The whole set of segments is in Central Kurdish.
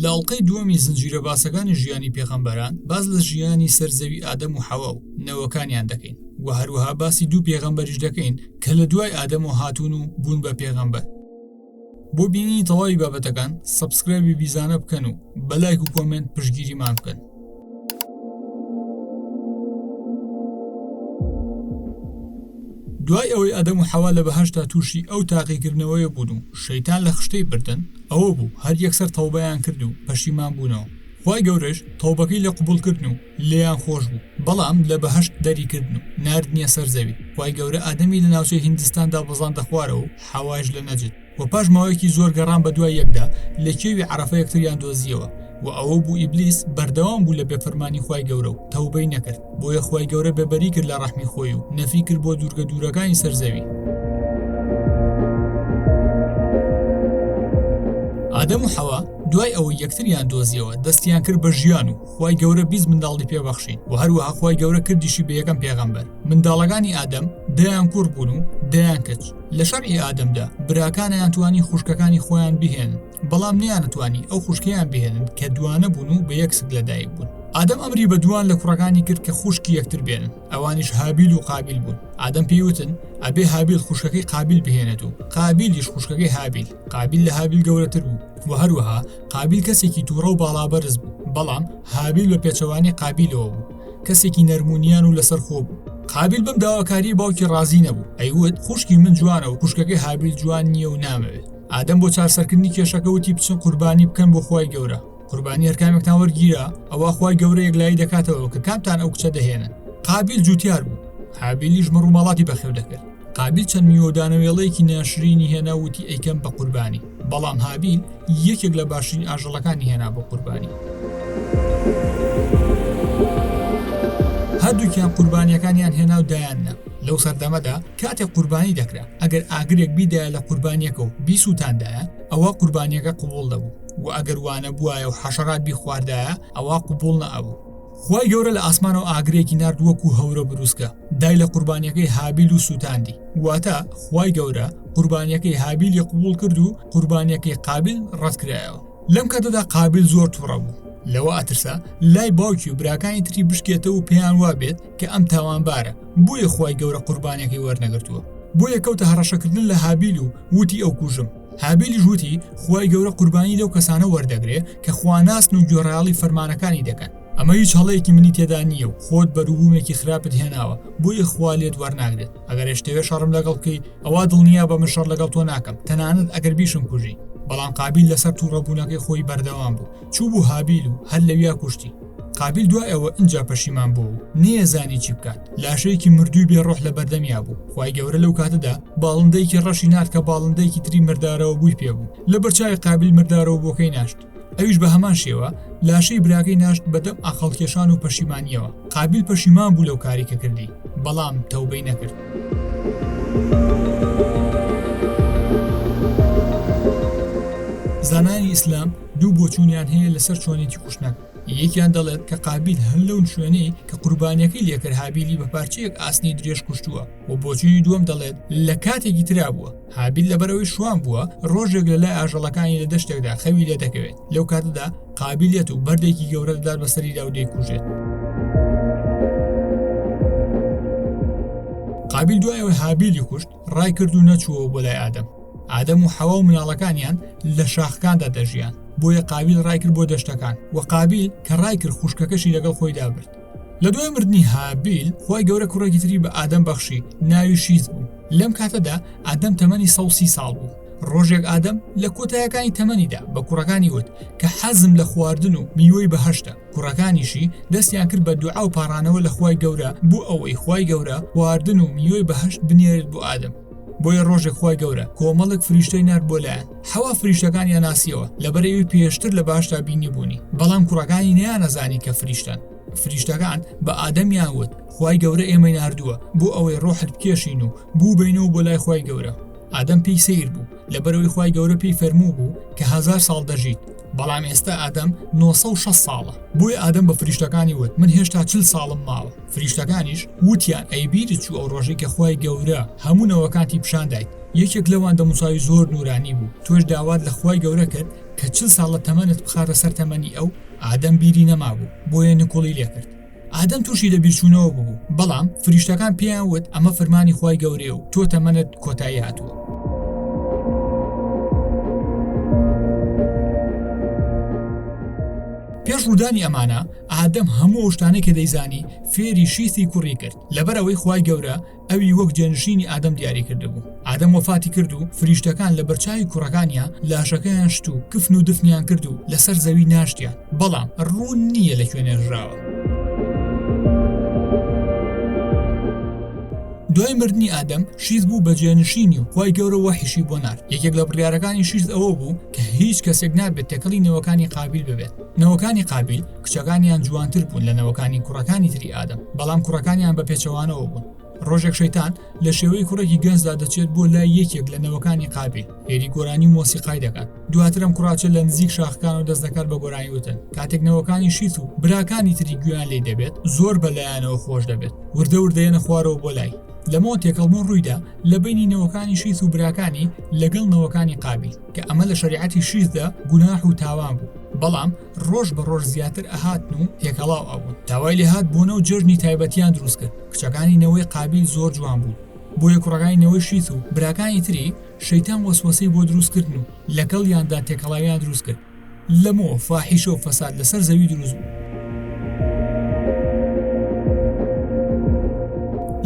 لە ئەڵلقەی دووەمی زنجیرە باسەکانی ژیانی پێغەمبەران باز لە ژیانی سەر زەوی ئادەم و حەوا و نەوەکانیان دەکەین و هەروەها باسی دوو پێغەمبەریش دەکەین کە لە دوای ئادەمەوە هاتوون و بوون بە پێغەمبەر بۆ بینینی تەواوی بابەتەکان سەبسکرایبی بیزانە بکەن و بە لایک و کۆمنت پشگیریمان بکەن دوای ئەوەی ئەدەم و حەوا لە بەهشتا تووشی ئەو تاقیکردنەوەیە بوون و شەیتان لە خشتەی بردن ئەوە بوو هەر یەکسەر تەوبەیان کرد و پەشیمان بوونەوە خی گەورەش تەوبەکەی لە قوبولکردن و لێیان خۆش بوو بەڵام لە بەهەشت دەری کردن و ناردنیە سەر زەوی خوای گەورە ئادەمی لە ناوچەی هیندستاندا بەزاندە خوارەوە و حەوایش لە نەجد وە پاش ماوەیەکی زۆر گەڕان بە دوای یەکدا لە کێوی عەرەفە یەکتریان دۆزیەوە وە ئەوە بوو ئیبلیس بەردەوام بوو لە بێ فرمانی خوای گەورە و تەوبەی نەکرد بۆیە خوای گەورە بێ بەری کرد لە ڕەحمی خۆی و نەفی کرد بۆ دوورگە دوورەکانی سەر زەوی. ئادەم و حەوا دوای ئەوەی یەکتریان دۆزیەوە دەستیان کرد بە ژیان و خوای گەورە بیست منداڵی پێ بەخشی و هەروەها خوای گەورە کردیشی بە یەکەم پێغەمبەر منداڵەکانی ئادەم دەیان کوڕ بوون و دەیان کچ لە شەرعی ئادەمدا براکانیان توانی خوشکەکانی خۆیان بهێن بەڵام نیانتوانی ئەو خوشکیان بهێنن کە دوانە بوون و بە یەکسک لەدایک بوون ئادەم ئەمری بە دوان لە کوڕەکانی کرد کە خوشکی یەکتر بێن ئەوانیش هابیل و قابل بوون ئادەم پێیوتن ئەبێ هابیل خوشکەکەی قابل بهێنێت و قابلیش خوشکەکەی هابیل قابیل لە هابیل گەورەتر بوو و هەروەها قابیل کەسێکی تووڕە و باڵابەرز بوو بەڵام هابیل بە پێچەوانەی قابیلەوە بوو کەسێکی نەرمونیان و لەسەر خۆ بوو قابیل بم داواکاری باوکی ڕازی نەبوو ئەیوت خوشکی من جوانە و خوشکەکەی هابیل جوان نییە و نامەوێت ئادەم بۆ چارسەرکردنی کێشەکە وتی بچن قوربانی بکەن بۆ خی گەورە قوربانی هەرکامێکتان وەرگیرا ئەوە خی گەورە یەکلایی دەکاتەوە کە کامتان ئەو کچە دەهێنن قابل جوتیار بوو حابیلیش مەڕ و ماڵاتی بەخێو دەکرد قابل چەند میوەدانەوێڵەیەکی ناشرینی هێنا وتی ئەیکەم بە قوربانی بەڵام هابیل یەکێک لە باشترین ئاژەڵەکانی هێنا بۆ قوربانی هەردووکیان قوربانیەکانیان هێنا و دایاننا لەو سەردەمەدا کاتێک قوربانی دەکرا ئەگەر ئاگرێک بیدایە لە قوربانیەکە و بیسووتاندایە ئەوە قوربانیەکە قوبول دەبوو وە ئەگەر وانەبوایە و حەشەرات بیخواردایە ئەوا قبوڵ نەئەبوو خوای گەورە لە ئاسمانەوە ئاگرێکی نارد وەکو هەورە بروسکە دای لە قوربانیەکەی هابیل و سووتاندی واتە خوای گەورە قوربانیەکەی هابیلی قبول کرد و قوربانیەکەی قابل ڕەتکرایەوە لەم کاتەدا قابل زۆر تووڕە بوو لەوە ئەترسا لای باوکی و براکانی تری بشکێتە و پێیان وابێت کە ئەم تاوانبارە بۆیە خی گەورە قوربانەکەی وەرنەگرتووە بۆیە کەوتە هەڕەشەکردن لە هابیل و وتی ئەو کوژم هابیلیش وتی، خوای گەورە قوربانی لەو کەسانە وەردەگرێ کە خواناسن و گوێڕایەڵی فەرمانەکانی دەکەن، ئەمە هیچ هەڵەیەکی منی تێدا نییە و خۆت بەروبوومێکی خراپت هێناوە بۆیە خوا لێت وەرناگرێت، ئەگەر ئێشتەوێ شەڕم لەگەڵ بکەی ئەوا دڵنیابە من شەڕ لەگەڵ تۆ ناکەم تەنانەت ئەگەر بیشم کوژی، بەڵام قابیل لەسەر توڕەبوونەکەی خۆی بەردەوام بوو، چووبوو هابیل و هەر لەویا کوشتی. قابیل دوای ئەوە ئینجا پەشیمان بوو و نێزانی چی بکات لاشەیەکی مردووی بێ ڕۆح لە بەردەمیا بوو خی گەورە لەو کاتەدا باڵندەیەکی ڕەشی نرد کە باڵندەیەکی تری مردارەوە بووی پێ بوو لە بەرچوی قابل مردارەوە بۆکەی ناشت ئەویش بە هەمان شێوە لاشەی براگەی ناشت بەدەم ئاقلکێشان و پەشیمانیەوە قابل پەشیمان بوو لەو کاری کە کردی بەڵام تەوبەی نەکرد. زانانی ئیسلام دوو بۆچوونیان هەیە لەسەر چۆنێتی کوشتنەکە، یەکیان دەڵێت کە قابیل هەر لەو شوێنەی کە قوربانییەکەی لێکرد هابیلی بە پارچەیەک ئاسنی درێژ کوشتووە و بۆچوونی دووەم دەڵێت لە کاتێکی ترا بووە، هابیل لەبەرئەوەی شوان بووە ڕۆژێک لەلای ئاژەڵەکانی لە دەشتێکدا خەوی لێدەکەوێت، لەو کاتەدا قابیل یەت و بەردێکی گەورە دەدات بەسەریدا و دەیکوژێت. قابیل دوای ئەوەی هابیلی کوشت، ڕای کرد و نەچووەوە بۆ لای ئادەم ئادەم و حەوا و مناڵەکانیان لە شاخکاندا دەژیان بۆیە قابیل ڕای کرد بۆ دەشتەکان و قابیل کە ڕای کرد خوشکەکەشی لەگەڵ خۆی دابرد لە دوای مردنی هابیل خی گەورە کوڕێکی تری بە ئادەم بەخشی ناوی شیز بوو لەم کاتەدا ئادەم تەمەنی سە سی ساڵ بوو ڕۆژێک ئادەم لە کۆتایەکانی تەمەنیدا بە کوڕەکانی وت کە حەزم لە خواردن و میوەی بەهشتە کوڕەکانیشی دەستیان کرد بە دوعا و پاڕانەوە لە خوای گەورە بۆ ئەوەی خوای گەورە خواردن و میوەی بەهشت بنێرێت بۆ ئادەم بۆیە ڕۆژێک خی گەورە کۆمەڵک فریشتەی نار بۆ لایەن حەوا فریشتەکان یان ناسیەوە لەبەرەوی پێشتر لە باشدا بینی بوونی بەڵام کوڕەکانی نیانەزانی کە فریشتن فریشتەکان بە ئادەمیان وت خی گەورە ئێمەی نردووە بۆ ئەوەی ڕۆحت بکێشین و بوو بینەوە بۆ لای خی گەورە ئادەم پێی سیر بوو لەبەرەوەی خی گەورە پێی فەرموو بوو کە هزار ساڵ دەژیت بەڵام ئێستا ئادەم 960 ساڵە بۆیە ئادەم بە فریشتەکانی وت من هێشتا چل ساڵم ماوە فریشتەکانیش وتیان ئەیبیری چوو ئەو ڕۆژی کە خی گەورە هەموو نەوەکانتی پیشاندایت یەکێک لەوان دەموساوی زۆر نورانی بوو تۆش داوات لە خی گەورە کرد کە چل ساڵە تەمەنت بخاتە سەر تەمەنی ئەو ئادەم بیری نەمابوو بۆیە نکوڵی لێکرد ئادەم تووشی لەبیرچوونەوە ببوو، بەڵام فریشتەکان پێیان وت، ئەمە فرمانی خوای گەورەیە و تۆ تەمەنت کۆتایی هاتووە. پێش ڕوودانی ئەمانە، ئادەم هەموو ئەو شتانەی کە دەیزانی، فێری شیسی کوڕی کرد، لەبەر ئەوەی خوای گەورە، ئەوی وەک جێنشینی ئادەم دیاری کردبوو ئادەم وەفاتی کرد و فریشتەکان لە بەرچوی کوڕەکانیا لاشەکەیان شت و کفن و دفنیان کرد و لەسەر زەوی ناشتیان بەڵام ڕوون نییە لە کوێنێژراوە. دوای مردنی ئادەم شیز بوو بە جێنشینی و خی گەورە وەحیشی بۆ نار یەکێک لە بڕارەکانی شیز ئەوە بوو کە هیچ کەسێک نابێت تێکەڵی نەوەکانی قابل ببێت نەوەکانی قابیل کچەکانیان جوانتر بوون لە نەوەکانی کوڕەکانی تری ئادەم بەڵام کوڕەکانیان بە پێچەوانەوە بوون ڕۆژێک شەیتان لە شێوەی کوڕێکی گەنجدا دەچێت بۆ لای یەکێک لە نەوەکانی قابیل هێری گۆرانی مۆسیقای دەکات دواترم کوڕاچێت لە نزیک شاخکان و دەست دەکات بە گۆرانی وتن کاتێک نەوەکانی شیت و براکانی تری گویان لی دەبێت زۆر بەلایەنەوە خۆش دەبێت وردە وردەیەنە خوارەوە بۆ لای لەمەوە تێکەڵبوون ڕوویدا لە بینینەوەکانی شیت و براکانی لەگەڵ نەوەکانی قابیل کە ئەمە لە شەریعەتی شیزدا گوناح و تاوان بوو بەڵام ڕۆژ بە ڕۆژ زیاتر ئەهاتن و تێکەڵاو ئەبوون داوای لێهات بوونە و جەژنی تایبەتیان دروست کرد کچەکانی نەوەی قابیل زۆر جوان بوو بۆیە کوڕەکانی نەوەی شیت و براکانی تری شەیتان وەسوەسەی بۆ دروست کردن و لەگەڵ یاندا تێکەڵاویان دروست کرد لەمەوە فاحیشە و فەساد لەسەر زەوی دروست بوو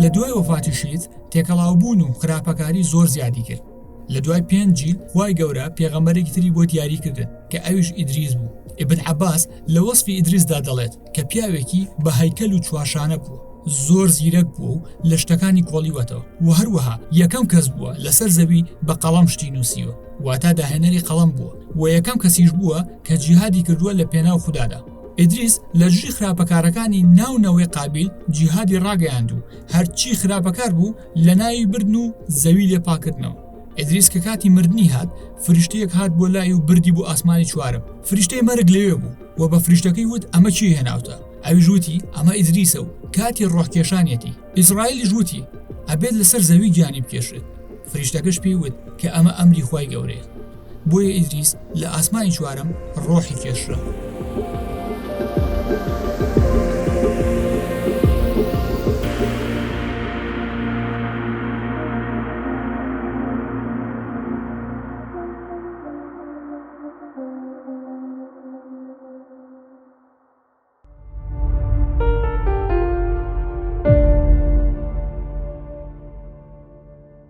لە دوای وەفاتی شیت تێکەڵاوبوون و خراپەکاری زۆر زیادی کرد لە دوای پێنج جیل خوای گەورە پێغەمبەرێکی تری بۆ دیاری کردن کە ئەویش ئیدریس بوو ئبن عباس لە وەسفی ئیدریسدا دەڵێت کە پیاوێکی بە هەیکەل و چوارشانە بوو زۆر زیرەک بووە و لە شتەکانی کۆڵیوەتەوە و هەروەها یەکەم کەس بووە لەسەر زەوی بە قەڵەم شتی نووسیوە واتا داهێنەری قەڵەم بووە و یەکەم کەسیش بووە کە جیهادی کردووە لە پێناو خوددادا ئیدریس لە دژی خراپەکارەکانی ناو نەوەی قابیل جیهادی ڕاگەیاند و هەرچی خراپەکار بوو لەناوی بردن و زەوی لێ پاکردنەوە ئەدریس کە کاتی مردنی هات فریشتەیەک هات بۆ لای و بردی بۆ ئاسمانی چوارم فریشتەی مەرگ لەوێ بوو و بە فریشتەکەی وت ئەمە چی هێناوتە ئەویش وتی ئەمە ئیدریسە و کاتی ڕۆحکێشانەتی ئیسرائیلیش وتی ئەبێت لەسەر زەوی گیانی بکێشێت فریشتەکەش پێی وت کە ئەمە ئەمری خی گەورەیە بۆیە ئیدریس لە ئاسمانی چوارەم ڕۆحی کێشرا.